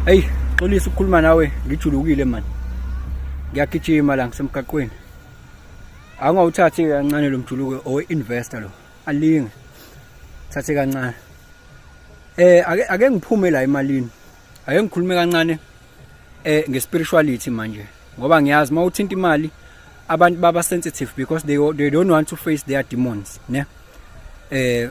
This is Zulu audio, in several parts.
Hey, xolisa ukukhuluma nawe, ngijulukile man. Ngiyagijima la ngisemgaqweni. Angawuthathi kancane lo mjuluko owe investor lo. Alinge. Thathe kancane. Eh ake ake ngiphume la emalini. Ake ngikhulume kancane eh ngespirituality manje ngoba ngiyazi mawuthinta imali abantu baba sensitive because they they don't want to face their demons ne eh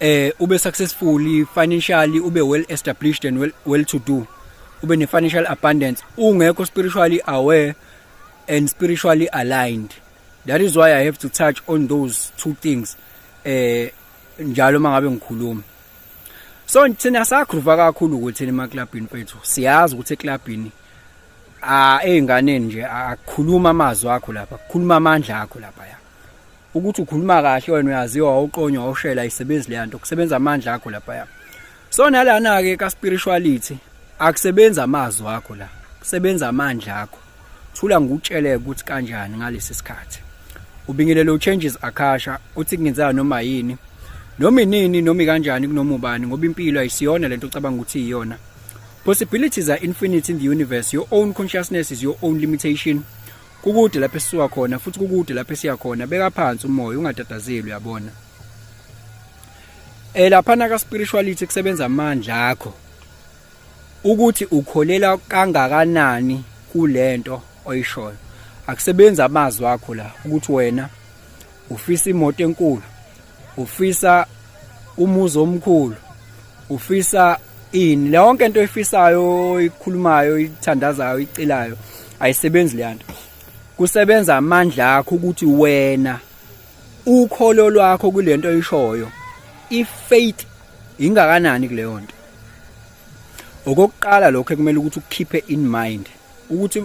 eh ube successful financially ube well established and well, well to do ube ne financial abundance ungekho spiritually aware and spiritually aligned that is why i have to touch on those two things eh njalo mangabe ngikhuluma so thina sakhruva kakhulu ukuthi ema clubini kwethu siyazi ukuthi eclubini a ah, ezinganeni nje akukhuluma amazwi akho lapha kukhuluma amandla akho lapha ya ukuthi ukhuluma kahle wena uyaziwa wawuqonywa wawushela isebenzi leya nto kusebenza amandla akho laphaya so nalana-ke ka-spirituality akusebenzi amazwi akho la kusebenza amandla akho thula ngikutsheleke ukuthi kanjani ngalesi sikhathi ubingelele uchanges akasha uthi kungenzeka noma yini noma inini noma kanjani kunoma ubani ngoba impilo ayisiyona lento ocabanga ukuthi iyona possibilities are infinite in the universe your own consciousness is your own limitation kukude lapho esisuka khona futhi kukude lapho esiya khona beka phansi umoya ungatatazeli uyabona eh lapha na ka spirituality kusebenza amandla akho ukuthi ukholela kangakanani kulento oyishoyo akusebenza amazwi akho la ukuthi wena ufisa imoto enkulu ufisa umuzi omkhulu ufisa ini lonke into efisayo ikhulumayo ithandazayo icelayo ayisebenzi leyanto kusebenza amandla akho ukuthi wena ukholo lwakho kulento oyishoyo ifaith ingakanani kuleyo nto okokuqala lokho ekumele ukuthi ukukhiphe in mind ukuthi